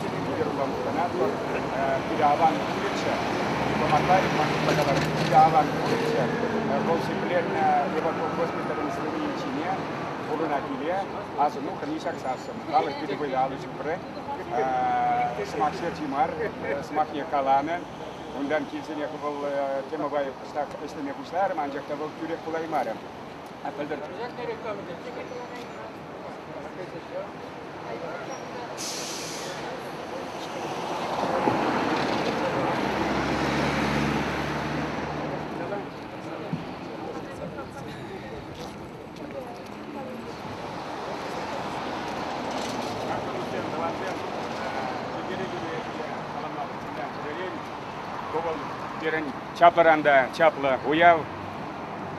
Чӗрӳкӗ кӑна пирӗн аван курӗччӗ. Дипломатарь ман пата ларать. Питӗ аван курӗччӗ. Вӑл ҫӗкленнӗ Леваков госпиталӗн звенийӗн ҫине пурӑнать пире. Асӑну хӑни ҫаксассӑн халӑх пирӗн вӑйлӑ алӑ ҫупрӗ. Сӑмах ҫерҫи мар, сӑмахне каланӑ. Унтан килсенех вӑл темӑпа кӑштах ӗҫлеме пуҫларӑм, анчах та вӑл тӳрех пулаймарӗ. Пӗлтӗр Пирӗн чапӑран та чаплӑ уяв.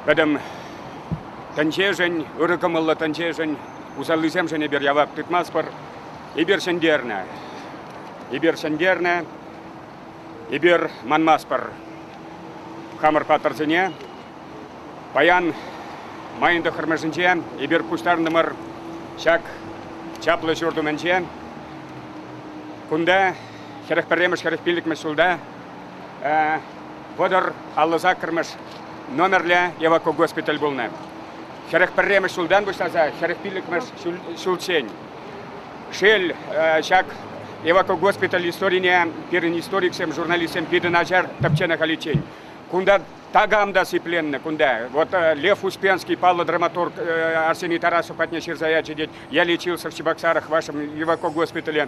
Пӗтӗм Тӗнчешӗн, ырӑ кӑмӑллӑ тӗнчешӗн, усаллисемшӗн эпир явап тытмастпӑр. Эпир ҫӗнтернӗ. Эпир ҫӗнтернӗ. Эпир манмастпӑр хамӑр паттӑрсене. Паян майӑн тӑххӑрмӗшӗнче эпир пуҫтарӑнтӑмӑр ҫак чаплӑ ҫурт умӗнче. Кунта хӗрӗх пӗрремӗш хӗрӗх пиллӗкмӗш ҫулта вӑтӑр аллӑ саккӑрмӗш номерлӗ эвакогоспиталь пулнӑ. Хӗрӗх пӗрремӗш ҫултан пуҫласа хӗрӗх пиллӗкмӗш ҫулччен. Шел, ҫак эвакогоспиталь историне пирӗн историксем, журналистсем питӗ начар тӗпченӗ халиччен. Кунта такам та сипленнӗ кунта. Вот Лев Успенский паллӑ драматург Арсений Тарасов патне ҫырса ячӗ, тет, я лечился в Чебоксарах вашем эвакогоспитале.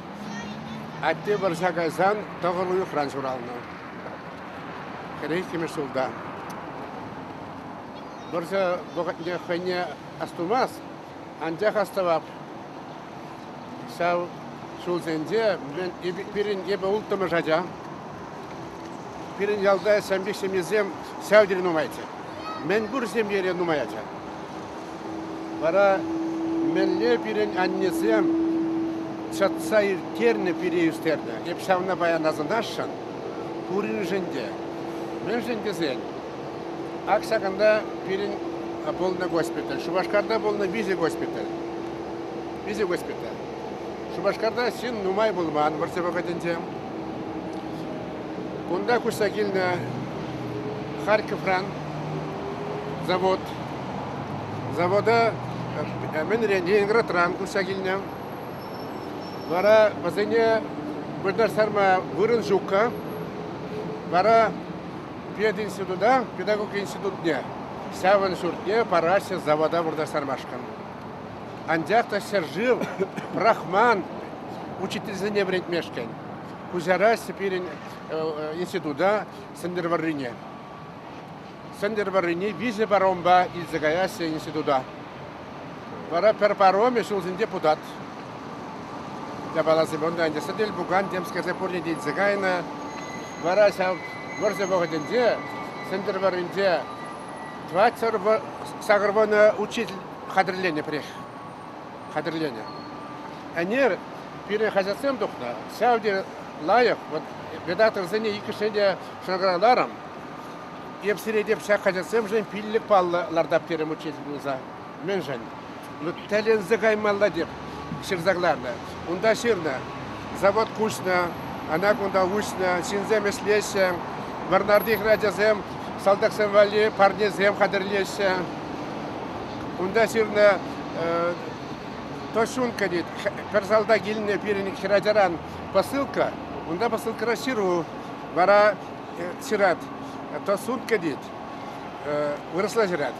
Атте вӑрҫа кайсан тӑхӑр уйӑхран ҫуралнӑ. Хӗреххимӗш ҫулта. Вӑрҫӑ вӑхӑтне хӑйне астумасть, анчах астӑвап. Ҫав ҫулсенче мӗн пирӗн эпӗ улттӑмӗш ача. Пирӗн ялта ҫамрӑк ҫемьесем ҫав тери нумайччӗ. Мӗнпур ҫемьере нумай ача. Вара мӗнле пирӗн аннесем чӑтса ирттернӗ пире ӳстернӗ. Эп ҫавна паян асӑнасшӑн. Пуриншӗн те. Мӗншӗн тесен ак ҫакӑнта пирӗн пулнӑ госпиталь, Шупашкарта пулнӑ виҫӗ госпиталь. Виҫӗ госпиталь. Шупашкарта ҫын нумай пулман вӑрҫӑ вӑхӑтӗнче. Кунта куҫса килнӗ Харьковран завод. Завода мӗн Ленинградран куҫса килнӗ. Вара вӗсене вырнаҫтарма вырӑн ҫуккӑ. Вара пединститута, педагог институтне, ҫавӑн ҫуртне параҫҫӗ завода вырнаҫтармашкӑн. Анчах та ҫӗршыв пӑрахман учительсене вӗрентмешкӗн. Куҫарасчӗ пирӗн института Сӗнтӗрвӑррине. Сӗнтӗрвӑррине виҫӗ паромпа илсе каяҫҫӗ института. Вара пӗр паромӗ ҫулсен депутат. Япала Семенова ӗнтӗ сӗтел пукан темскерсе пурне те илсе кайнӑ. Вара ҫав вӑрҫӑ вӑхӑтӗнче Сӗнтӗрвӑрринче Тӑват сакӑрвунӑ учитель хатӗрленӗ пӗрех. Хатӗрленӗ. Ӗнер пирӗн хаҫатсем тухнӑ. Ҫав тери лайӑх. Вот редакторсене иккӗшне те шӑнкӑравларӑм. Эп сире теп ҫак хаҫатсемшӗн пиллӗк паллӑ лартап терӗм учитель пулса. Мӗншӗн? Тӗлӗнсе каймалла теп ҫырса кӑларнӑ. Унта ҫырнӑ, завод куҫнӑ, ӑна кунта уҫнӑ, ҫынсем ӗҫлеҫҫӗ. Вӑрнарти хӗрачасем салтаксем валли парнесем хатӗрлеҫҫӗ. Унта ҫырнӑ Тощунка тет. Пӗр салтак илнӗ пирӗн хӗрачаран посылка. Унта посылкӑра ҫыру. Вара ҫырать, Тосунка тет. Вырӑсла ҫырать.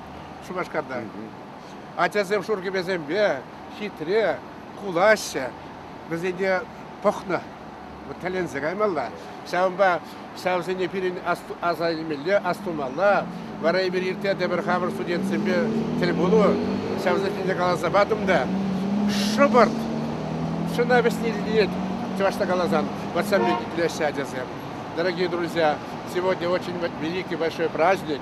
Шупашкарта. Ачасем шур кӗпесемпе хитре кулаҫҫӗ. Вӗсене пӑхнӑ. Вот тӗлӗнсе каймалла. Ҫавӑнпа ҫавсене пирӗн аса илмелле, астумалла. Вара эпир иртсе тепӗр хамӑр студентсемпе тӗл пулу. Ҫавсене те каласа патӑм та. Шӑпӑрт! Шӑна вӗҫни ҫитет, чӑвашла каласан. Вот со мной итлеҫҫӗ ачасем. Дорогие друзья, сегодня очень великий большой праздник.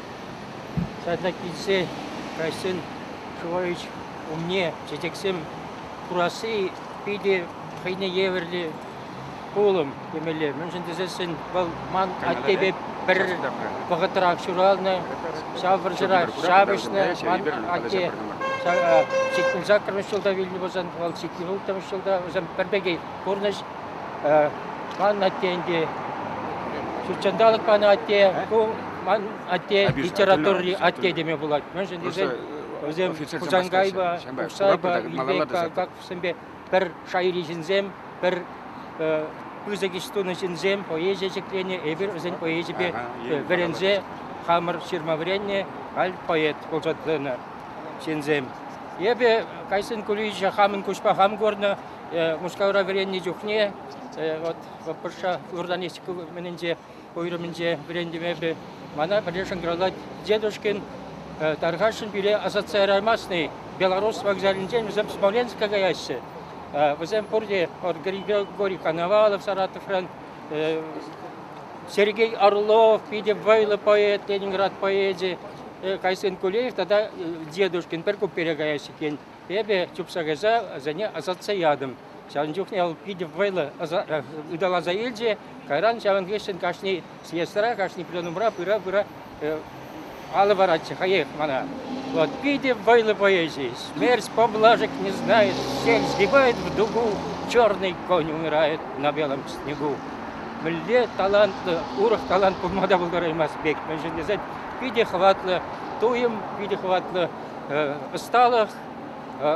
Садла килсе кайсан Шувович умне чечексем хурасси питӗ хӑйне евӗрлӗ пулӑм темелле. Мӗншӗн тесессӗн вӑл ман аттепе пӗр вӑхӑтрах ҫуралнӑ, ҫав вӑрҫӑра ҫапӑҫнӑ. Ман атте сиккун саккӑрмӗш ҫулта вилнӗ пулсан, вӑл сиккун улттӑмӗш ҫулта вӗсем пӗр пекех пурнӑҫ. Ман атте ӗнтӗ ҫутҫанталӑк панӑ атте, ку ман атте литератури атте теме пулать. Мӗншӗн тесен вӗсем Хусанкайпа, Курсайпа, Илбекпа, как вӗсемпе пӗр шайри ҫынсем, пӗр пысӑк ӗҫ тунӑ ҫынсем поэзие ҫӗкленӗ. Эпир вӗсен поэзипе вӗренсе хамӑр ҫырма вӗреннӗ, халь поэт пулса тӑнӑ ҫынсем. Эпӗ Кайсын Кулевича хамӑн куҫпа хам курнӑ, Мускавра вӗреннӗ чухне вот вӑрҫа журналистика умӗнче уйрӑмӗнче вӗрентӗмӗпе мана пӗрле шӑнкӑравлать дедушкин тархасшӑн пире асатса яраймастни Белорус вокзалӗнчен вӗсем Смоленска каяҫҫӗ. Вӗсем пурте вот Григорий Коновалов Саратовран, Сергей Орлов питӗ вӑйлӑ поэт, Ленинград поэчӗ, Кайсын Кулеев тата Дедушкин пӗр куппере каяҫҫӗ иккен. Эпӗ чупса кайса вӗсене ӑсатса ятӑм. Ҫавӑн чухне вӑл питӗ вӑйлӑ ыталаса илчӗ. Кайран ҫавӑн хыҫҫӑн кашни съездра, кашни пленумра пыра-пыра алӑ паратчӗ хӑех мана. Вот питӗ вӑйлӑ поэзист. Смерть поблажек не знает, всех сгибает в дугу, черный конь умирает на белом снегу. Мӗнле талантлӑ, урӑх талант пулма та пултараймасть пек. Мӗншӗн тесен питӗ хӑватлӑ туйӑм, питӗ хӑватлӑ ӑсталӑх,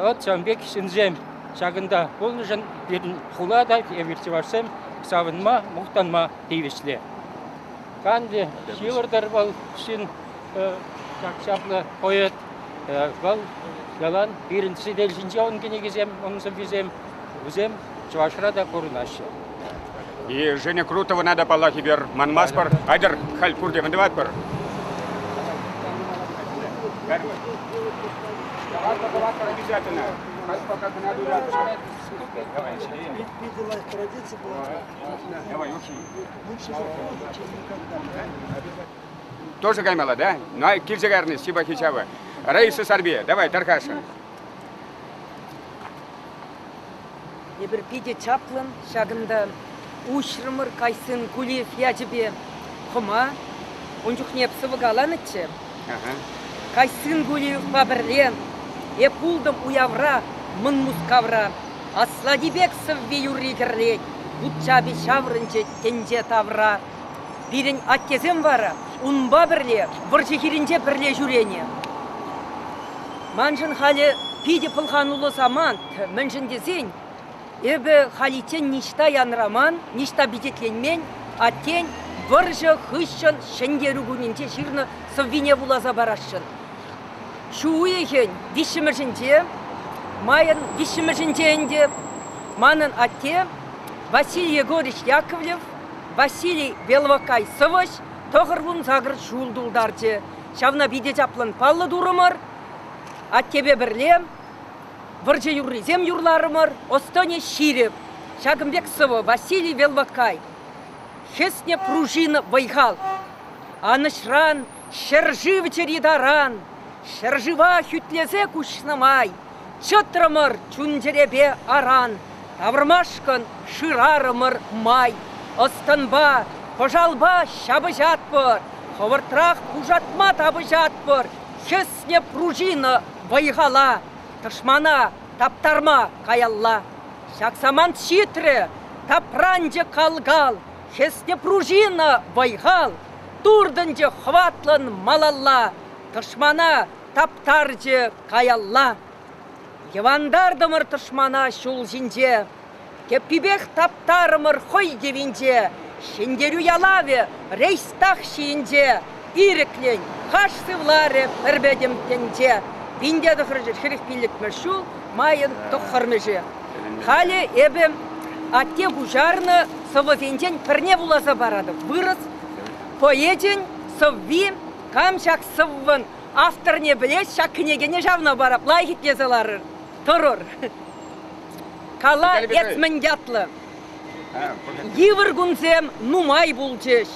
ӑт-тем пек ҫынсем ҫакӑнта пулнӑшӑн пирӗн хула та, эпир чӑвашсем савӑнма, мухтанма тивӗҫлӗ. Канлӗ ҫывӑртӑр вӑл ҫын ҫак чаплӑ поэт. Вӑл ялан пирӗн сӗтел ҫинче ун кӗнекисем, ун сӑввисем Вӗсем Чӑвашра та пурӑнаҫҫӗ. И Женя Крутовӑна та паллах эпир манмастпӑр. Айтӑр, халь пурте мӗнтӑватпӑр. Давайте, давайте обязательно. Как пока кӑна туйлатӑр. Давай, Сергей. Питӗ лайӑх традиция была. Давай, очень. Лучше заходить, чем никогда. Тоже каймала, да? Ну, а килсе карни, спасибо, Хичава. Раиса Сарбия, давай, тархасшӑн. Эпир питӗ чаплӑн ҫакӑнта уҫрӑмӑр кайсын Гулиев ячӗпе хӑма. Ун чухне эп сӑвӑ каланӑччӗ. Кайсын Гулиевпа пӗрле эп пултӑм уявра Мӑн Мускавра. Аслати пек сӑвви-юрри кӗрлет, вут чапи ҫаврӑнчӗ тӗнче тавра. Пирӗн аттесем вара унпа пӗрле вӑрҫӑ хирӗнче пӗрле ҫӳренӗ. Маншӑн халӗ питӗ пӑлхануллӑ самант, мӗншӗн тесен эпӗ халиччен ниҫта янраман, ниҫта пичетленмен аттен вӑрҫӑ хыҫҫӑн Ҫӗнтерӳ кунӗнче ҫырнӑ сӑввине вуласа парасшӑн. Ҫу уйӑхӗн виҫҫӗмӗшӗнче, майӑн виҫҫӗмӗшӗнче ӗнтӗ, манӑн атте Василий Егорович Яковлев Василий Белокай сӑвӑҫ тӑхӑр-вунсакӑр ҫул тултарчӗ. Ҫавна питӗ чаплӑн паллӑ турӑмӑр. Аттепе пӗрле вӑрҫӑ юррисем юрларӑмӑр. Ӑс-тӑнӗ ҫирӗп. Ҫакӑн пек сӑвӑ Василий Белокай Хӗснӗ пружин вӑй-хал. Анӑҫран, ҫӗршыв чӗри таран, ҫӗршыва хӳтлесе куҫнӑ май, Чӑтрӑмӑр чун-чӗрепе аран, тавӑрмашкӑн шырарӑмӑр май. Ӑс-тӑнпа, пӑшалпа ҫапӑҫатпӑр, хӑвӑртрах пушатма тапӑҫатпӑр, чысне пружина вӑй-хала, тӑшмана таптарма каялла. Ҫак самант ҫитрӗ, тапранчӗ кал-кал, хӗсне пружина вӑй-хал, туртӑнчӗ хӑватлӑн малалла, тӑшмана таптарчӗ каялла. Йӑвантартӑмӑр тӑшмана ҫул ҫинче, тӗппипех таптарӑмӑр хӑй йӑвинче. Ҫӗнтерӳ ялавӗ рейхстаг ҫийӗнче ирӗклӗн хаш сывларӗ пӗр пӗтӗм тӗнче. Винте тӑхӑрӑшӗ хӗрӗх пиллӗкмӗш ҫул майӑн тӑххӑрмӗшӗ. Халӗ эпӗ атте пуҫарнӑ сӑвӑсенчен пӗрне вуласа паратӑп. Вырӑс поэчӗн сӑвви Кам ҫак сӑввӑн авторне пӗлес, ҫак кӗнекене ҫавна парап лайӑх итлесе ларӑр, тӑрӑр. Кала эт мӗн ятлӑ. Йывӑр кунсем нумай пулчӗҫ.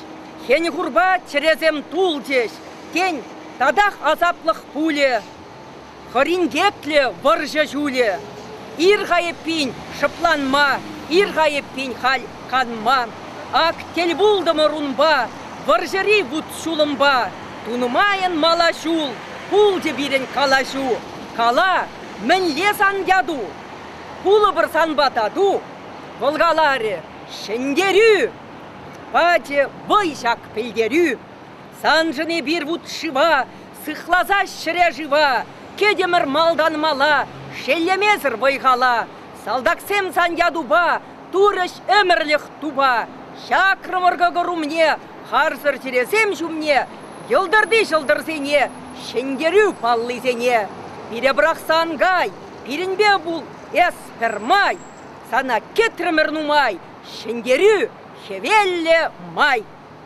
Хӗн-хурпа чӗресем тулчӗҫ. Тен, татах асаплӑх пулӗ. Хӑринкетлӗ вӑрҫӑ ҫулӗ. Ир-ха эппин шӑпланма, ир-ха эппин халь канма. Ак тӗл пултӑмӑр унпа, вӑрҫӑри вут-ҫулӑмпа. Тунӑмайӑн мала ҫул, пулчӗ пирӗн калаҫу. Кала, мӗнле сан яту? Кулӑпӑр санпа тату. Вӑл каларӗ ҫӗнтерӳ! Пачӗ вӑй ҫак пӗлтерӳ. Саншӑн эпир вут-шыва Сыхласа ҫӗре-шыва, кӗтӗмӗр малтан мала, шеллемесӗр вӑй-хала. Салтаксем сан ятупа турӗҫ ӗмӗрлӗх тупа. Чакрӑмӑр кӑкӑр умне харсӑр чӗресем ҫумне йӑлтӑрти ҫӑлтӑрсене, ҫӗнтерӳ паллисене. Пире пӑрахса ан кай, пирӗнпе пул эс пӗр май. Сана кӗтрӗмӗр нумай, ҫӗнтерӳ хӗвеллӗ май.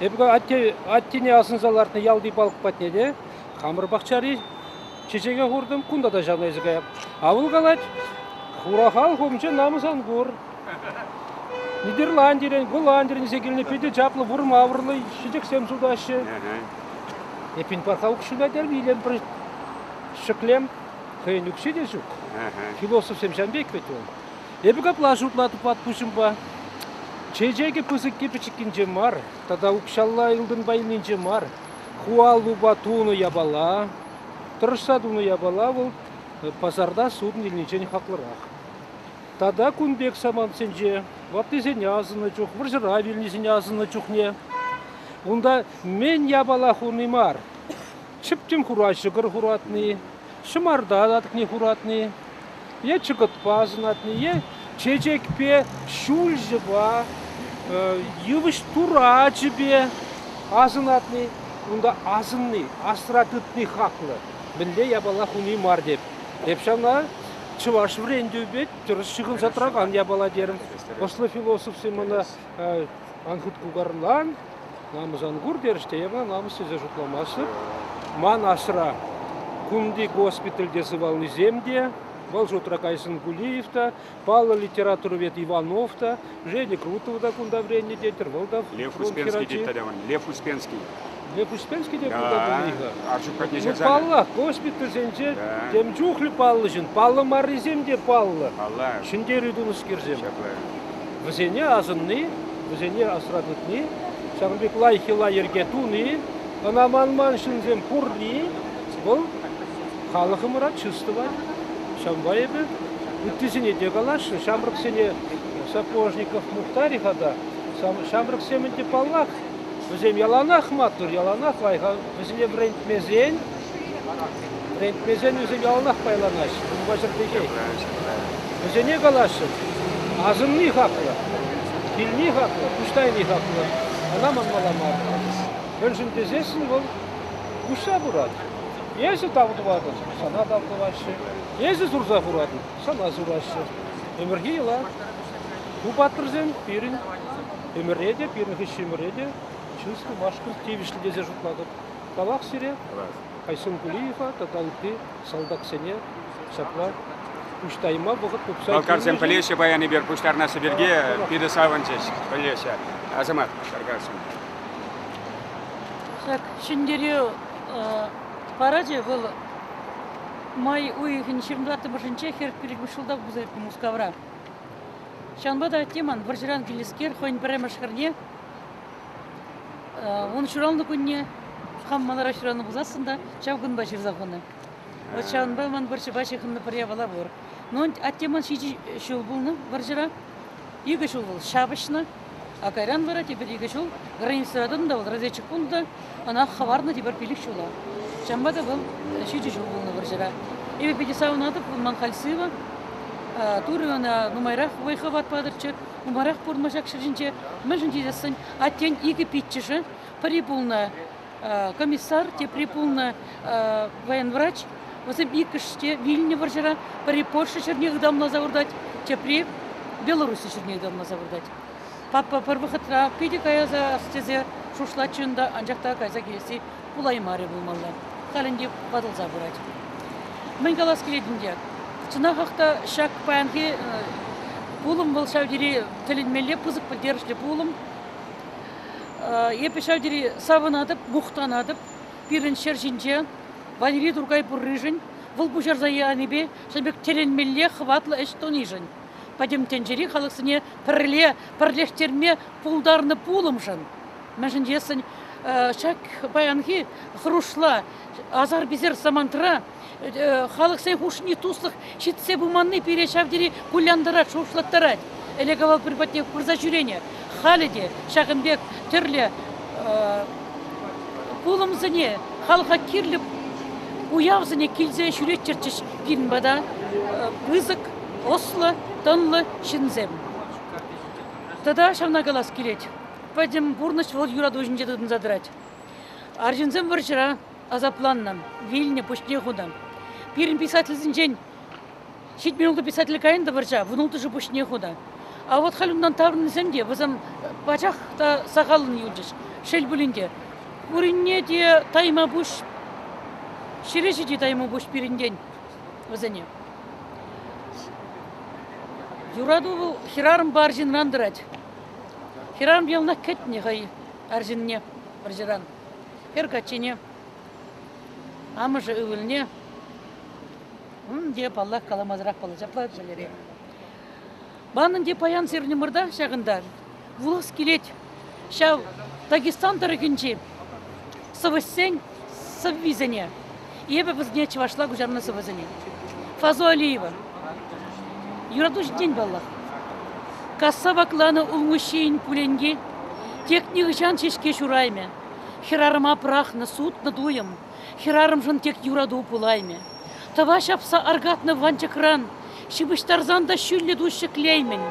Эпӗ атте, аттене асӑнса лартнӑ ялти палӑк патне те хамӑр пахчари чечеке хуртӑм. Кунта та ҫавна илсе каям. Авыл калать, хура халӑх умӗнче намӑс ан кур. Нидерландирен, Голландирен илсе килнӗ питӗ чаплӑ вурма авӑрлӑ чечексем ҫутаҫҫӗ. Эппин, паха укҫуна терӗм, илемпӗр ҫӗклем. Хӑйӗн укҫи те ҫук. Философсем ҫавӑн пек вӗт вӑл. Эпӗ капла шутла тупатпуҫӑмпа чечекӗ пысӑкки пӗчӗккинче мар тата укҫалла ылтӑн пайӗнче мар ху аллупа тунӑ япала, тӑрӑшса тунӑ япала вӑл пасарта суд илнинчен хаклӑрах. Тата кун пек самантсенче ваттисене асӑннӑ чух, вӑрҫӑра вилнисене асӑннӑ чухне унта мӗн япала хуни мар, Чӗптӗм хура ҫӑкӑр хуратни, ҫӑмарта латӑкне хуратни, е чӑкӑтпа сунатни, е чечекпе, ҫулҫӑпа, йывӑҫ турачӗпе асӑнатни, унта асӑнни, асра тытни хаклӑ. Мӗнле япала хуни мар теп. Эп ҫавна чӑваш вӗрентӳпе тӗрӗс ҫыхӑнса тӑракан япала терӗм. Ӑслӑ философсем ӑна Ан хут кукарлан, намӑс ан кур терӗҫ те эпӗ намӑс тесе шутламастӑп. Ман асра кунти госпитальте сывалнисем те, вӑл шутра Кайсын Гулиев та, паллӑ литературовед Иванов та, Женя Крутова та кунта вӗреннӗ тетӗр, вӑл та Лев Успенский тет тата мана, Лев Успенский. Лепушканский те кунта килмен-и-ха? Ашукатне Ну, ҫакса. паллах, госпитальсенче Да. тем чухлӗ паллӑ ҫын, паллӑ маррисем те паллӑ. Палла. Ҫӗнтерӳ тунӑскерсем. Ҫапла. Вӗсене асӑнни, вӗсене асра тытни, ҫакӑн пек лайӑх йӑла-йӗрке туни, ӑна манман ҫынсем пурри, вӑл халӑхӑмӑра чыс тӑвать. Ҫавӑнпа эпӗ ыттисене те каласшӑн. Ҫамрӑксене Сапожников Мухтарь-и-ха та? Сам- Ҫамрӑксем ӗнтӗ паллах Вӗсем яланах маттур, яланах лайӑх. Вӗсене вӗрентмесен, вӗрентмесен вӗсем яланах пайланаҫҫӗ, унпа ҫӗр печет. Вӗсене калаҫҫӑн, асӑнни хаклӑ, килни хаклӑ, пуҫтайни хаклӑ. Ӑна манмалла мар. Мӗншӗн тесессӗн вӑл уҫса пырать. Эсӗ тав тӑватӑн, сана тав тӑваҫҫӗ. Эсӗ сурса хуратӑн, сана сураҫҫӗ. Ӗмӗрхи йӑла. Ку паттӑрсем пирӗн Ӗмӗре те, пирӗн хыҫҫӑмӗре те чыс тумашкӑн тивӗҫлӗ тесе шутлатӑп. Тавах сире, Айсен Гулиева тата ытти салтаксене ҫапла пуҫтайма вӑхӑт тупса Балкарсем пӗлеҫҫӗ паян пуҫтарнаҫҫӗ пирки, питӗ савӑнчӗҫ, пӗлеҫҫӗ. Асамат, Каркассин. Ҫак ҫӗнтерӳ парачӗ вӑл май уйӑхӗн 24-ӗмӗршӗнче хӗрӗх пирӗн шулта пулса иртнӗ Мускавра. Ҫавӑнпа та Тиман вӑрҫӑран килнӗскер хӑйӗн пӗрремӗш хӗрне ун ҫуралнӑ кунне хам манара ҫураннӑ пулсассӑн та ҫав кунпа ҫырса хунӑ. Вот ҫавӑнпа ман вӑрҫӑпа ҫыхӑннӑ пӗр япала пур. Ну, Аттеман ҫичӗ ҫул пулнӑ вӑрҫӑра. Икӗ ҫул вӑл ҫапӑҫнӑ. А кайран вара тепӗр икӗ ҫул границӑра тӑнӑ та вӑл разведчик пулнӑ ӑна хӑварнӑ тепӗр пилӗк ҫула. Ҫавӑнпа та вӑл ҫичӗ ҫул пулнӑ вӑрҫӑра. Эпӗ питӗ савӑнатӑп, ман халь сывӑ. Турӑ ӑна нумайрах вӑй-хӑват патӑрччӗ, нумайрах пурӑнма ҫак ҫӗр ҫинче. Мӗншӗн тесен аттен икӗ пиччӗшӗ, пӗри пулнӑ комиссар, тепри пулнӑ военврач. Вӗсем иккӗш те вилнӗ вӑрҫӑра. Пӗри Польша ҫӗрне ытамласа выртать, тепри Белорусси ҫӗрне ытамласа выртать. Папа пӗр вӑхӑтра питӗ каяса тесе шушлатчӗ унта, анчах та кайса килесси пулаймарӗ пулмалла. Халь ӗнтӗ ватӑлса пырать. Мӗн калас килет ӗнтӗ? Чӑнахах та ҫак паянхи пулӑм вӑл ҫав тери тӗлӗнмелле пысӑк пӗлтерӗшлӗ пулӑм. Эпӗ ҫав тери савӑнатӑп, мухтанатӑп пирӗн ҫӗр ҫинче Валери Туркай пурришӗн, вӑл пуҫарса янипе ҫын пек тӗлӗнмелле хӑватлӑ ӗҫ тунишӗн, пӗтӗм тӗнчери халӑхсене пӗрле пӗрлештерме пултарнӑ пулӑмшӑн. Мӗншӗн тесен ҫак паянхи хӑрушла асар-писер самантра халӑхсен хушшине туслӑх ҫитсе пыманни пире ҫав тери кулянтарать, шухӑшлаттарать. Ӗлӗк-авал пӗр патне пырса ҫӳренӗ, халӗ те ҫакӑн пек тӗрлӗ пулӑмсене, халӑха кирлӗ уявсене килсе ҫӳреттерчӗҫ пирӗн пата пысӑк, ӑслӑ, тӑнлӑ ҫынсем. Тата ҫавна калас килет, пӗтӗм пурнӑҫ вӑл юрату ҫинче тытӑнса тӑрать. Арҫынсем вӑрҫӑра асапланнӑ, вилнӗ, пуҫне хунӑ. Пирӗн писательсенчен ҫитмен ултӑ писатель каян та вӑрҫа, вунулттӑшӗ пуҫне хунӑ. А вот халь унтан таврӑннисем те вӗсем пачах та сахаллӑн юлчӗҫ. Шел пулин те, пуринне те таймапуҫ, ҫӗре ҫити таймапуҫ пирӗнтен вӗсене. Юрату вӑл хӗрарӑмпа арҫынран тӑрать. Хӗрарӑм яланах кӗтнӗ хӑй арҫынне, вӑрҫӑран. Хӗр каччине, амӑшӗ ывӑлне, ун те, паллах, каламасӑрах паллашаплать Валерий. Манӑн те паян сирнӗмӑрта ҫакӑнта вулас килет. Ҫав Дагестан тӑрӑхӗнчи сӑвӑҫсен сӑввисене. Эпӗ вӗсене чӑвашла куҫарнӑ сӑвӑсене. Фазо Алиева. Юрату ҫинчен паллах. Касса вакланӑ улмуҫҫийӗн пуленки. Тек нихӑҫан ҫеҫке ҫураймӗ. Хӗрарӑма пӑрахнӑ, сутнӑ туйӑм. Хӗрарӑмшӑн тек юрату пулаймӗ. Тӑва ҫапса аркатнӑ ванчӑкран ҫыпӑҫтарсан та ҫӳллӗ тус ҫӗклеймӗн.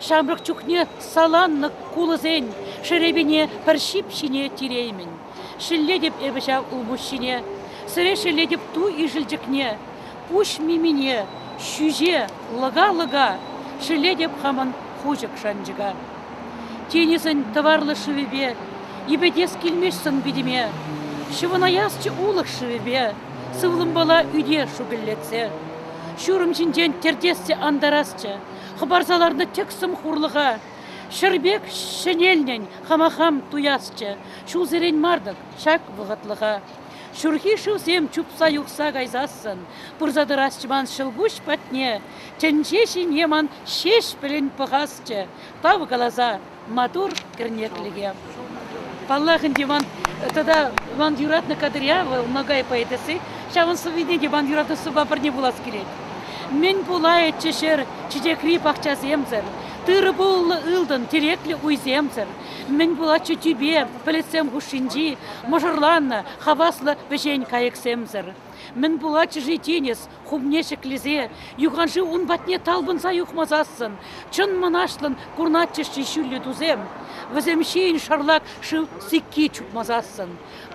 Ҫамрӑк чухне саланнӑ кулӑсен шерепине пӗр ҫип ҫине тиреймӗн. Шеллетӗп эпӗ ҫав улпуҫҫине, Сире шеллетӗп ту ишӗлчӗкне, Пуҫ мимине, ҫӳҫе, лӑка-лӑка, Шеллетӗп хамӑн хушӑк шанчӑка. Тинӗсӗн тӑварлӑ шывӗпе, Йӗпетес килмест сӑн-питӗме. Ҫӑвӑнаясчӗ улӑх шывӗпе, Сывлӑмпала ӳте шукӑллетсе. Ҫурӑм ҫинчен тӗртесчӗ антарасчӗ, Хӑпарса ларнӑ тӗксӗм хурлӑха. Ҫӗр пек ҫӗнелнӗн хама хам туясчӗ, Ҫулсерен мар-тӑк ҫак вӑхӑтлӑха ҫурхи шывсем чупса юхса кайсассӑн пырса тӑрасчӗ ман ҫӑлкуҫ патне. Тӗнче ҫине ман Ҫеҫпӗлӗн пӑхасчӗ, тав каласа маттур кӗрнеклӗхе. Паллах ӗнтӗ, ман тата ман юратнӑ кадря вӑл Ногай поэтесси. Ҫавӑн сӑввине те ман юратуссӑрпа пӗрне вулас килет. Мӗн пулайӗччӗ ҫӗр чечекри пахчасемсӗр, тырӑ-пуллӑ ылтӑн тӗреклӗ уйсемсӗр. Мӗн пулатчӗ тӳпе пӗлӗтсем хушшинчи мӑшӑрланнӑ хаваслӑ вӗҫен кайӑксемсӗр? Мӗн пулатчӗ-ши тинӗс хумне ҫӗклесе, юханшыв ун патне талпӑнса юхмасассӑн? Чӑн мӑнаҫлӑн курнатчӗҫ-ши ҫӳллӗ тусем, вӗсем ҫийӗн шарлак шыв сикки чупмасассӑн?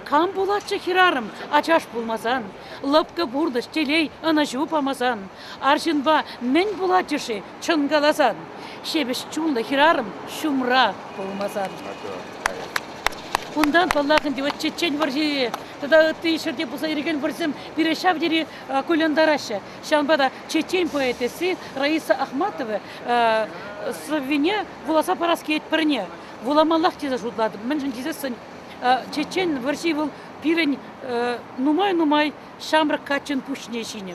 Кам пулатчӗ хӗрарӑм ачаш пулмасан, лӑпкӑ пурнӑҫ, телей, ӑнӑҫу памасан? Арҫынпа мӗн пулатчӗ-ши Чӑн каласан, ҫепӗҫ чунлӑ хӗрарӑм ҫумра пулмасан. Унтан, паллах, ӗнтӗ вот чечен вӑрҫи тата ытти ҫӗрте пулса ирӗкен вӑрҫӑсем пире ҫав тери кулянтараҫҫӗ. Ҫавӑнпа та чечен поэтесси Раиса Ахматова сӑввине вуласа парас килет пӗрне. Вуламаллах тесе шутлатӑп, мӗншӗн тесессӗн чечен вӑрҫи вӑл пирӗн нумай-нумай ҫамрӑк каччӑн пуҫне ҫинӗ.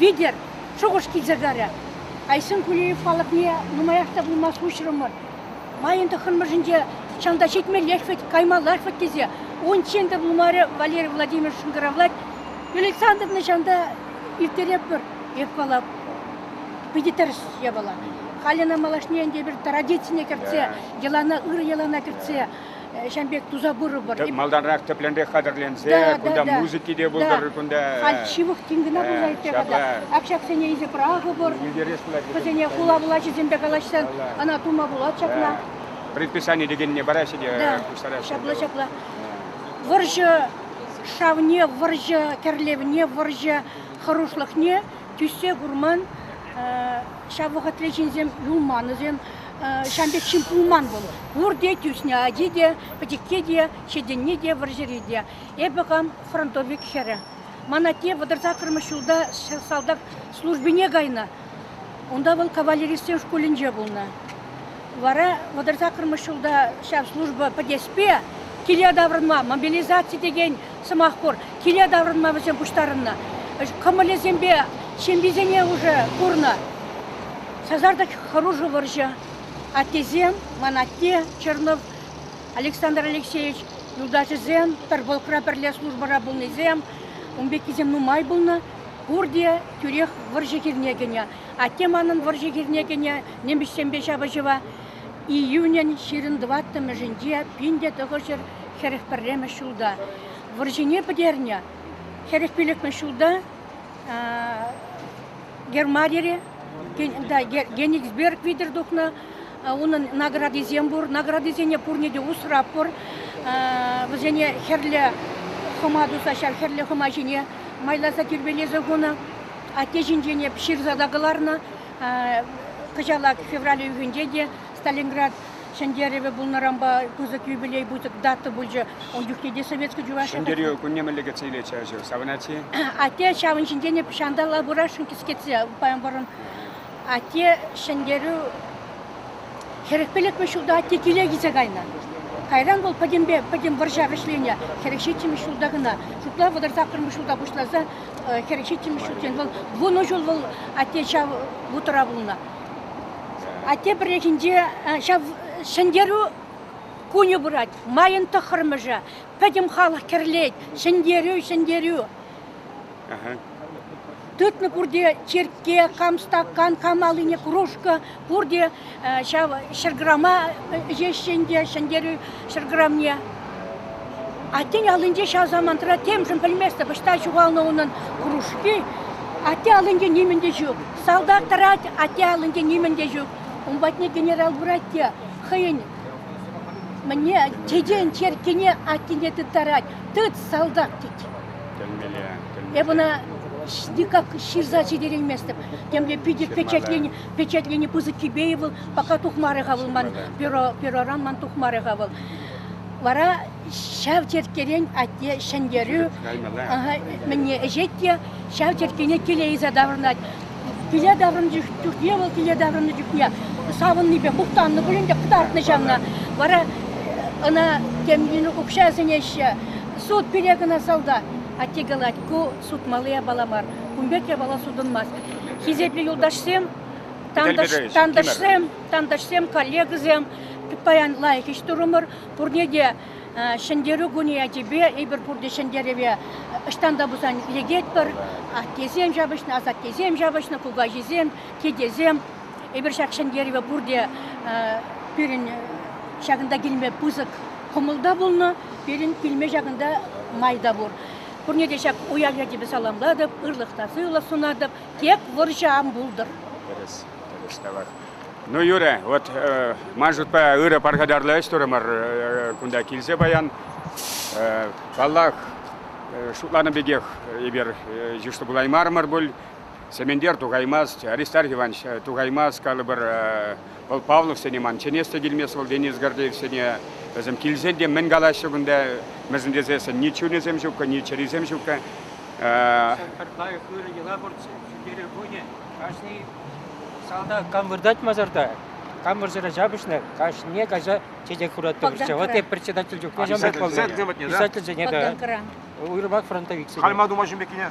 Витер шухӑш килсертарӗ. Айсен Кулеев халӑхне нумаях та пулмасть уҫрӑмӑр. Майӑн тӑххӑрмӗшӗнче чӑн та ҫитмеллех вӗт, каймаллах вӗт тесе унччен те пулмарӗ Валерий Владимирович шӑнкӑравлать. Александровна ҫанта ирттеретпӗр. Эх, калап, питӗ тӗрӗс япала. Халь ӑна малашне ӗнтӗ пӗр традицине кӗртсе, йӑлана, ырӑ йӑлана кӗртсе ҫавӑн пек туса пырӑпӑр. Тӗп малтанрах тӗплӗнрех хатӗрленсе, кунта музыки те пултӑр, кунта... Халь ҫывӑх тин кӑна пулса ирттерет-ха. Ак ҫаксене илсе пӑрахӑпӑр. Вӗсене хула влаҫӗсемпе калаҫсан ӑна тума пулать ҫакна. Предписани текенне параҫҫӗ те пуҫтараҫҫӗ. Ҫапла, ҫапла. Вӑрҫӑ шавне, вӑрҫӑ кӗрлевне, вӑрҫӑ хӑрушлӑхне тӳссе курман ҫав вӑхӑтле ҫынсем юлманӑсем. ҫав пек ҫын пулман вӑл. Пурте тӳснӗ, ачи те, пӗчӗкке те, ҫитӗнни те, вӑрҫӑри те. Эпӗ хам фронтовик хӗрӗ. Ман атте вӑтӑрсаккӑрмӗш ҫулта салтак службине кайнӑ. Унта вӑл кавалеристсен шкулӗнче пулнӑ. Вара вӑтӑрсаккӑрмӗш ҫулта ҫав служба пӗтеспе киле таврӑнма мобилизаци текен сӑмах пур. Киле таврӑнма вӗсем пуҫтарӑннӑ. Кӑмӑлӗсемпе ҫемйисене уже курнӑ. Сасартӑк хӑрушӑ вӑрҫӑ. Аттесем, ман атте Чернов, Александр Алексеевич юлташӗсем, тырпылӑхра пӗрле службӑра пулнисем, ун пеккисем нумай пулнӑ. Пурте тӳрех вӑрҫӑ хирне кӗнӗ. Атте манӑн вӑрҫӑ хирне кӗнӗ, немӗҫсемпе ҫапӑҫӑва. Июнӗн ҫирӗн тӑваттӑмӗшӗнче пин те тӑхӑрҫӗр хӗрӗх пӗрремӗш ҫулта вӑрҫине пӗтернӗ. Хӗрӗх пилӗкмӗш ҫулта Германире Генигсберг витӗр тухнӑ. Унӑн наградисем пур. Наградисене пурне те усрап пур. Вӗсене хӗрлӗ хӑма туса ҫав хӗрлӗ хӑма ҫине майласа тирпейлесе хунӑ. Атте ҫинчен ҫырса та кӑларнӑ. Кӑҫалах февраль уйӑхӗнче те Сталинград ҫӗнтерӗвӗ пулнӑранпа пысӑк юбилей дата пулчӗ. Ун чухне те Советский Чуваш... Ҫӗнтерӳ кунне мӗнле кӗтсе илетчӗ ачу? Савӑнать-и? Атте ҫавӑн ҫинчен ҫанталла пырасшӑн кӗскетсе памӑрӑн. Атте ҫӗнтерӳ хӗрӗхпелетмӗш ҫулта атте киле килсе кайнӑ. Кайран вӑл пӗтӗмпе пӗтӗм вӑрҫа вӗҫленӗ. Хӗрӗх ҫиччӗмӗш ҫулта кӑна. Шутла вӑтӑр саккӑрмӗш ҫулта пуҫласа хӗр ҫиччӗмӗш ҫулччен вӑл вунӑ ҫул вӑл атте ҫав вутӑра пулнӑ. Атте пӗррехинче ҫав ҫӗнтерӳ кунӗ пырать. Майӑн тӑххӑрмӗшӗ. Пӗтӗм халӑх кӗрлет. Ҫӗнтерӳ, ҫӗнтерӳ. Тытнӑ пурте черкке, кам стакан, кам аллине кружка, пурте ҫав ҫӗрграма ӗҫеҫҫӗ ӗнтӗ ҫӗнтерӳ ҫӗрграмне. Атте аллинче ҫав самантра темшӗн пӗлместӗп, ӑҫта ҫухалнӑ унӑн хӑрушки. Атте аллинче нимӗн те ҫук. Салтак тӑрать, атте аллинче нимӗн те ҫук. Ун патне генерал пырать те хӑйӗн мӗне тетен черккине аттене тыттарать. Тыт, салтак, тет. Тӗлмеле, тӗлмеле. Эп ӑна никак ҫырса ҫитерейместӗп. Темле питӗ печатлени Печатлени пысӑк тӳпейӗ вӑл, пока тухмарӗ-ха вӑл ман перо, пероран ман тухмарӗ-ха вӑл. Вара ҫав черккерен атте ҫӗнтерӳ мӗнне ӗҫет те ҫав черккене киле илсе таврӑнать. Киле таврӑннӑ чухне вӑл киле таврӑннӑ чухне савӑннипе мухтаннӑ пулин те кӑтартнӑ ҫавна. Вара ӑна темлин укҫа сӗнеҫҫӗ. Суд пире кӑна салта. Атте калать, ку сутмалли япала мар. Кун пек япала сутӑнмасть. хисеплӗ юлташсем, тантӑшсем, тантӑшсем, коллегӑсем, паян лайӑх ӗҫ турӑмӑр. Пурне те Ҫӗнтерӳ кунӗ ячӗпе, эпир пурте Ҫӗнтерӗве ӑҫтан та пулсан лекетпӗр. Аттесем ҫапӑҫнӑ, асаттесем ҫапӑҫнӑ, кукаҫисем, тетесем. Эпир ҫак Ҫӗнтерӗве пурте пирӗн ҫакӑнта килме пысӑк кӑмӑл та пулнӑ, пирӗн килме ҫакӑнта май та пур. Пурне те ҫак уяв ячӗпе саламлатӑп, ырлӑх та сывлӑх сунатӑп. Тек вӑрҫӑ ан пултӑр. Тӗрӗс, тӗрӗс калать. Ну, Юрӗ, вот ман шутпа ырӑ пархатарлӑ ӗҫ турӑмӑр кунта килсе паян. Паллах, шутланӑ пекех эпир йышлӑ пулаймарӑмӑр пуль. Сементер тухаймасть, Аристарх Иванович тухаймасть, калӑпӑр, Вӑл Павловсене ман чӗнес те килмест, вӑл Денис Гордеевсене, вӗсем килсен те мӗн калаҫҫӗ кунта, мӗсӗн тесессӗн ни чунӗсем ҫуккӑ, ни чӗрисем ҫуккӑ. Пӗр лайӑх ырӑ йӑла пурччӗ, ҫӳлтерӳ кунӗ. Кашни салтак кам выртать масарта, кам вӑрҫӑра ҫапӑҫнӑ, кашне каҫа чечек хуратпӑрччӗ. Вот я председатель чухне ҫав пек паллӑ. Писательсене те, уйрӑмах фронтовиксене. Калма туман ҫын пеккине.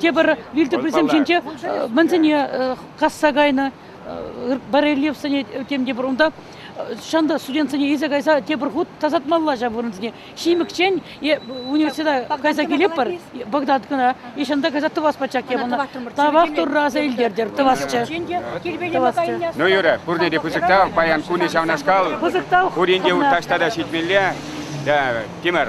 тепӗр вилтӑприсем ҫинче мӗнсене касса кайнӑ барельефсене тем тепӗр унта ҫанта студентсене илсе кайса тепӗр хут тасатмалла ҫав вырӑнсене ҫимӗкчен е университета кайса килетпӗр Багдад кӑна и ҫанта кайса тӑвас пачах япӑна тавах турра аса илтертер тӑвасчӗ ну юрӗ пурне те пысӑктав паян кунӗ ҫавнашкал пысӑктав пурин те таҫта та ҫитмелле тимӗр